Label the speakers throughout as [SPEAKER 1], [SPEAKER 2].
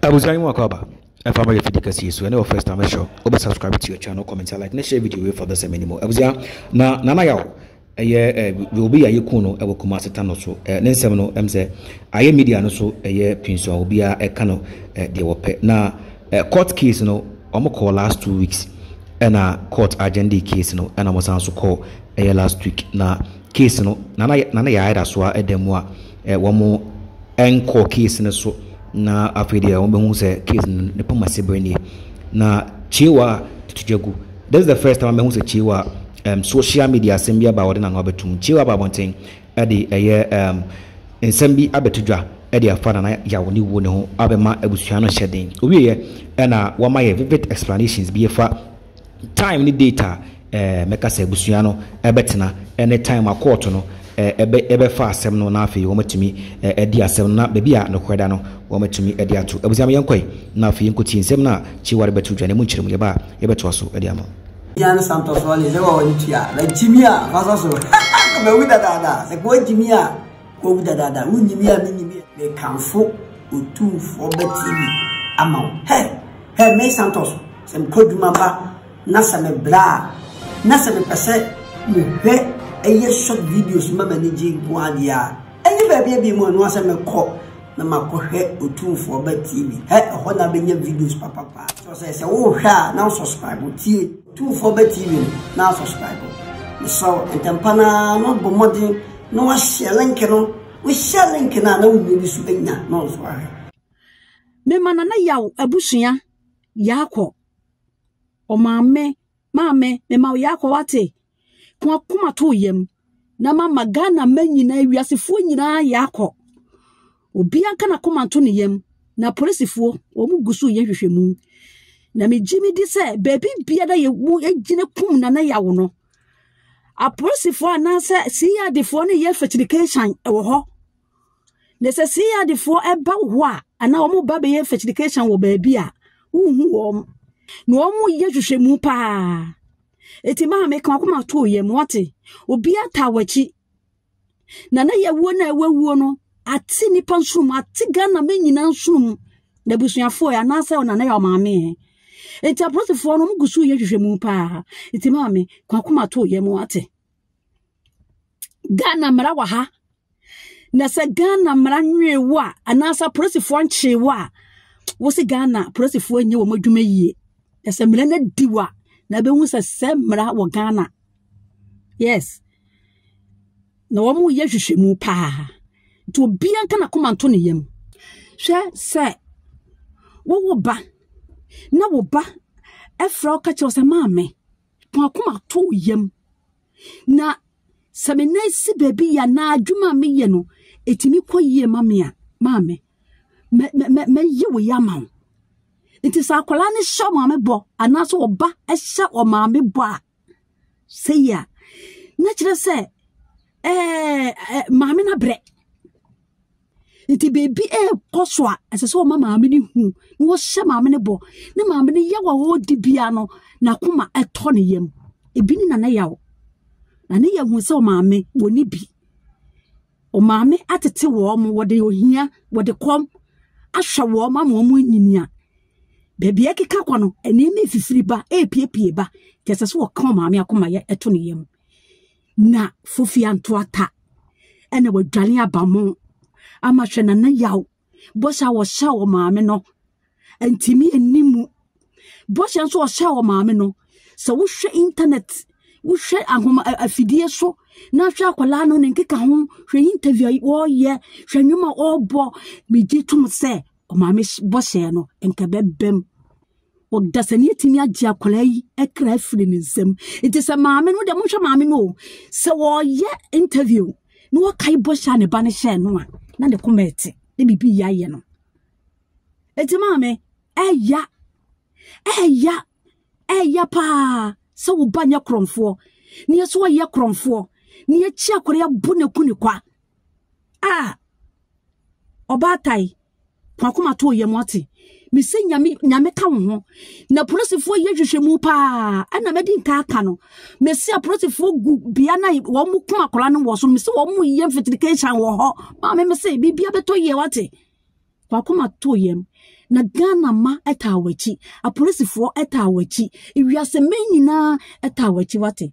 [SPEAKER 1] Abusua yi mu akɔaba ɛfa ma yɛ fidi kɛse yi so ɛne wɔ first time ɛhyɛ wobɛ subscribe to your channel comment like ne share video wei for this ɛmɛ ni mu abusua na nana yaw ɛyɛ ɛ obi yɛ ayɛ kun no ɛwɔ kumase ta no so ɛ ne nsɛm no ɛm sɛ ayɛ media no so ɛyɛ pinsua obi a ɛka no ɛ deɛ wɔpɛ na ɛ court case no wɔn kɔɔ last two weeks ɛna court agenda case no ɛna wɔn san so kɔɔ ɛyɛ last week na case no nana nana yɛ ayɛ da so a ɛda mu a wɔnkɔɔ case no so na afei deɛ wɔbɛhu sɛ case no ne pam ase berɛ nie na kyewa tutu dwa gu this is the first time mɛhu sɛ kyewa um, social media asɛm bi aba a wɔde n'ano abɛtum kyewa aba abɔnten ɛde ɛyɛ um, nsɛm bi abɛto dwa ɛde afa nana yawo ne wuo ne ho abɛma abusua no hyɛ den owieɛ ɛna wɔama yɛ vivid explanations bi ɛfa time ne date a ɛɛ mɛka sɛ abusua no ɛbɛtena ɛne time a kɔɔto no ɛbɛ ɛbɛfa asɛm no na afei wɔn atumi ɛdi asɛm no na baabi a nokorɛ da no wɔn atumi ɛde ato abusua mi yɛn kɔe na afei yɛn kɔtie nsɛm no a kyiwari bɛto dwa na emu nkyerɛ mu yɛba yɛbɛtoa so ɛde ama. Yan Santos
[SPEAKER 2] wale sɛ wɔn tua na gyimi a faso so bɛwu dadaada sɛ kɔɔ gyimi a Owu dadaada, wonnye me a minnye me a. Mekamfo Otumfoɔ ba TV ama wo. Hɛ! Hɛ! Me Santos, sɛ mekɔ adwuma ba na sɛ mebrɛ a, na sɛ mepɛ sɛ mehwɛ ɛyɛ short videos ma m'ani gye nko ara deɛ a, ɛnyɛ baabi abien mu ɛno ara sɛ mɛkɔ na makɔhwɛ Otumfoɔ ba TV. Hɛ! Ɛhɔ na abɛnya videos papapaa. Kyerɛ sɛ, sɛ worehwɛ a na wo subscribe, wotie. Tumfoɔ ba TV no na subscribe. Mesrɛ wo ntɛmpa no ara na wabɔ mmɔden na wahyɛ link no. Wohyɛ link no a na wonni bi so anya na ɔnso ahwɛ.
[SPEAKER 3] Mema Nana Yaw abusua Yaakɔ. Ɔmaame, maame, mema wo Yaakɔ wate. Ko akoma to yam. na mama ghana ma nyinaa wiasefoɔ nyinaa yɛ akɔ obiara nka n'akoma nto ne yam na polisifoɔ wɔn gu so yɛ hwehwɛmu na megye me di sɛ baabi biara yɛ mu gyina kum nana yawo no apolisifoɔ anaasɛ crdfoɔ ne yɛ fɛkyirikansan wɔ hɔ Na sɛ sii adefoɔ ɛba wo hɔ a anaa wɔn ba bɛyɛ fertigation wɔ baabi a wohu wɔn na wɔn yɛ hwehwɛmu paa eti maa mi kan kɔma to yam wɔte obi ata wɔakyi na na yɛ wuo na ɛwɔ wuo no ate nipa nsonom ate ghana mɛ nyinaa nsonom na abusuafoɔ yɛ anaasɛ ɔna na yɛ ɔmaame yɛ eti apolisifoɔ no wɔn gu so yɛ hwehwɛmu paa eti maa mi kan kɔma to yam wɔte. ghana mmara wɔ ha na sɛ ghana mmara nwee wo a anaasɛ apolisifoɔ nkyee wo a wo se ghana apolisifoɔ nyɛ wɔn adwuma yie na sɛ mmara no adi wo a na bɛhu sɛ sɛ mmara wɔ ghana yes na wɔn yɛ hwehwɛmu paa nti obiara nka na koma nto ne yam hwɛ sɛ wowo ba na wo ba ɛfrɛ wo ka kyerɛ wo sɛ maame pɔn akoma to yam na sɛ me nan si baabi yɛ anaa adwuma a meyɛ no ɛtumi kɔ yie ma me a maame mɛyɛ wo yɛ ama wo nti sɛ akwadaa no hyɛ ɔmaame bɔ anaasɛ ɔba hyɛ ɔmaame bɔ a sɛ yi a na kyerɛ sɛ ɛɛ maame no abrɛ nti biribi ɛrekɔ so a ɛsɛ sɛ ɔma maame no hu na wɔhyɛ maame no bɔ ne maame no yaw a ɔredi bia no n'akoma ɛtɔ ne yam ebi ne nana yaw na ne yɛ hu sɛ ɔmaame wɔ ne bi ɔmaame atete wɔn wɔde ohia wɔde kɔm ahwɛ wɔn ama wɔn anyinia baabi ɛkeka kɔ no nneɛma efifiri ba epiepie ba kyɛ sɛ sɛ ɔka ɔmaame akoma yɛ ɛto ne yam. na fofia ntoata ɛna wadwane abamo ama hwɛ na ne yaw bɔhyɛ a wɔhyɛ wɔ maame no ntumi nni mu bɔhyɛ nso ɔhyɛ wɔ maame no sɛ wohwɛ internet wohwɛ ahoma afidie so na hwɛ akwadaa no ne nkeka ho hwɛ interview a wɔreyɛ hwɛ nnwom a wɔrebɔ megye tom sɛ ɔmaame bɔhyɛ no nka bɛbɛm Ɔdasani atumi agye akwadaa yi kra afiri ne nsam nti sɛ maame no deɛ monhwɛ maame no o sɛ wɔyɛ interview na wɔkae bɔhyɛ a ne ba no hyɛɛ no a na ne koma ɛte na biribi yɛ ayɛ no nti maame ɛya ɛya ɛya paa sɛ wo ba nyɛ korɔmfoɔ ne yɛ so ɔyɛ korɔmfoɔ ne yɛkyi akwadaa yi abu ne ku ne kwa a ɔbaatan kwakoma to yam ɔte mese nyame nyame ka wo ho na polisifoɔ yɛ hwehwɛ mu paa ɛna mɛdi nka aka no mese apolisifoɔ gu bea na wɔn mu kum akwadaa no wɔ so mese wɔn mu yɛ mfitirication wɔ hɔ maame mese biribia bɛtɔ yie wate wakoma too yam na ghana ma ɛtaa w'akyi apolisifoɔ ɛtaa w'akyi ewiase mɛ nyinaa ɛtaa w'akyi wate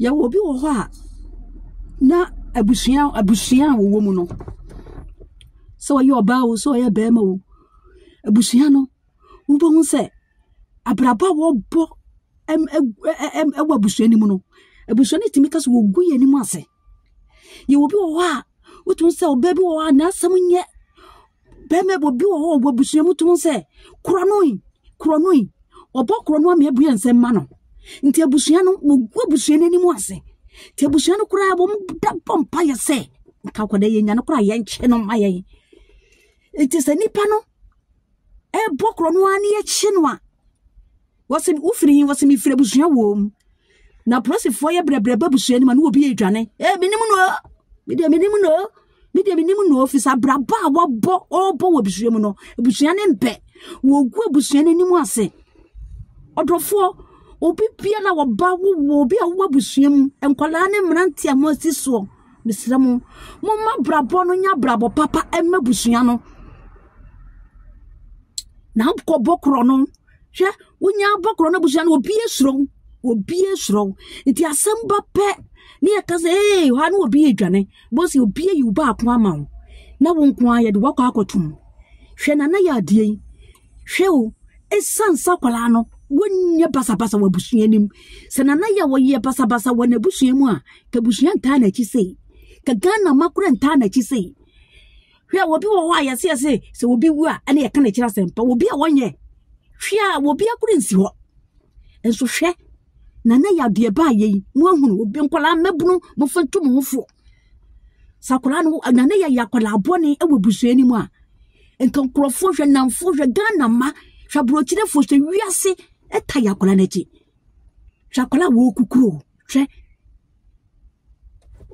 [SPEAKER 3] yɛwɔ obi wɔ hɔ a na abusua abusua a wɔwɔ mu no sɛ ɔyɛ ɔbaa o sɛ ɔyɛ bɛrima o abusua no wobɛhu sɛ abrabɔ a wɔbɔ ɛm ɛm ɛm ɛwɔ abusua no mu no abusua no tumi ka sɛ wɔgu yɛn anim ase Yɛwɔ bi wɔ hɔ a, wotumi sɛ ɔbaa bi wɔ hɔ a n'asɛm nyɛ. Bɛrima bi obi wɔ hɔ wɔ abusua mu tumi sɛ korɔ no yi, korɔ no yi. Ɔbɔ korɔ no ama abue nsɛm ma no. Nti abusua no, wɔgu abusua no anim ase. Nti abusua no koraa wɔn da bɔ mpaeɛ sɛ nka akwadaa yɛ nya no koraa yɛnkyɛ no mma yɛn. Nti sɛ nipa no ɛbɔ korɔ no ara ne yɛkye no a, Wɔsi wo firi hin wɔsi mi firi abusua wɔm na polisifoɔ yɛ brɛbrɛ ba abusua no ma ne obi edwane ee mi nim no mi deɛ mi nim no mi deɛ mi nim no fisa abrabɔ a wɔbɔ ɔbɔ wɔ abusua mu no abusua ne mpɛ wɔgu abusua no anim ase ɔdɔfoɔ obi bia na wɔba wowɔ obi a wowɔ abusua mu nkwadaa ne mmerante a wɔasi soɔ mesrɛ mo momma abrabɔ no nyɛ abrabɔ papa ɛma abusua no na akɔbɔ korɔ no hwɛ wonya abɔkorɔ no abusua no obi esuro obi esuro nti asɛm ba pɛ ne yɛ kasa ee hɔ ano obi edwane bɔsi obi eyi wo baako ama wo na wo nko ara yɛde wakɔ akɔtum hwɛ nana yɛ adeɛ yi hwɛ o esan sa akwadaa no wonyɛ basabasa wɔ abusua anim sɛ nana yɛ wɔyɛ basabasa wɔ n'abusua mu a kabusua ntaa n'akyi sei ka ghana makora ntaa n'akyi sei hwɛ obi wɔ hɔ a yɛse yɛse sɛ obi wu a ɛne yɛka n'akyiri asɛmpa obi a wɔnyɛ hwɛ a obi akoro nsi hɔ nso hwɛ na na yɛ adeɛ baa yɛ yi mo ahunu obi nkwadaa mmabunu mo fa ntu mo ho fo sɛ akwadaa no na na yɛ yɛ akwadaa bɔne wɔ busua no mu a nka nkurɔfoɔ hwɛ namfoɔ hwɛ ghana ma hwɛ aburokyerefoɔ hwɛ wiase ɛta yɛ akwadaa no akyi hwɛ akwadaa a wɔkukuro hwɛ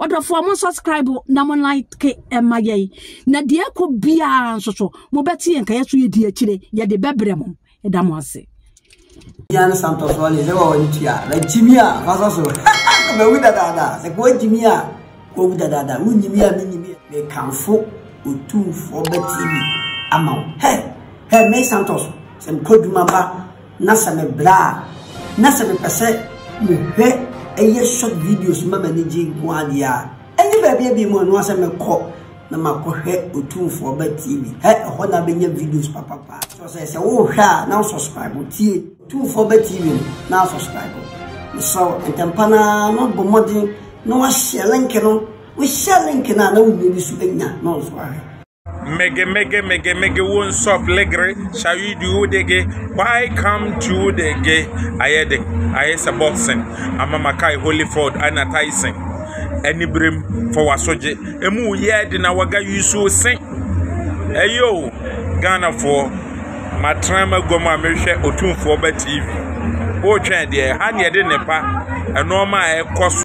[SPEAKER 3] ɔdɔfoɔ mo subscribe na mo like ɛma yɛn na deɛ ɛkɔ biara nso so mobɛte yɛn ka yɛ so yɛdi akyire yɛde bɛbrɛ mo ɛda mo ase Yan
[SPEAKER 2] Santos wale sɛ wɔwɔ ne tua na gyimi a fasa so bɛwu dadaada sɛ kɔ gyimi a kɔwu dadaada wonyimi a menyimi mekamfo otumfoɔ bɛtumi ama wo hɛ hɛ me Santos sɛ mekɔdwuma ba Na sɛ me bra a na sɛ mepɛ sɛ me hwɛ ɛyɛ short videos ma m'ani gye nko ara deɛ a ɛnyɛ baabi a bi mu ɛno asɛ me kɔ na ma kɔ hwɛ otumfoɔ ba tv hɛ ɛhɔ na bɛnya videos papapa kyerɛ sɛ sɛ wo hwɛ a na subscribe tie otumfoɔ ba tv no na subscribe mesrɛ wo ntɛmpa na na bɔ mmɔden na wahyɛ link no wohyɛ link no a na wo nua bi so bɛnya na ɔnso ahwɛ Mege mege mege mege won't stop
[SPEAKER 4] legere shall you do it again why come to the ge ayɛ de ayɛ sɛ boxing ama makae Holyford ɛna Tyson aniberem fa wasogye emu yɛ de na waga yusu se ɛyɛ o Ghanafoɔ matena maguam a mehwɛ otumfoɔ ba TV wotwɛn deɛ ha ne yɛde nnepa nneɛma a ɛkɔ so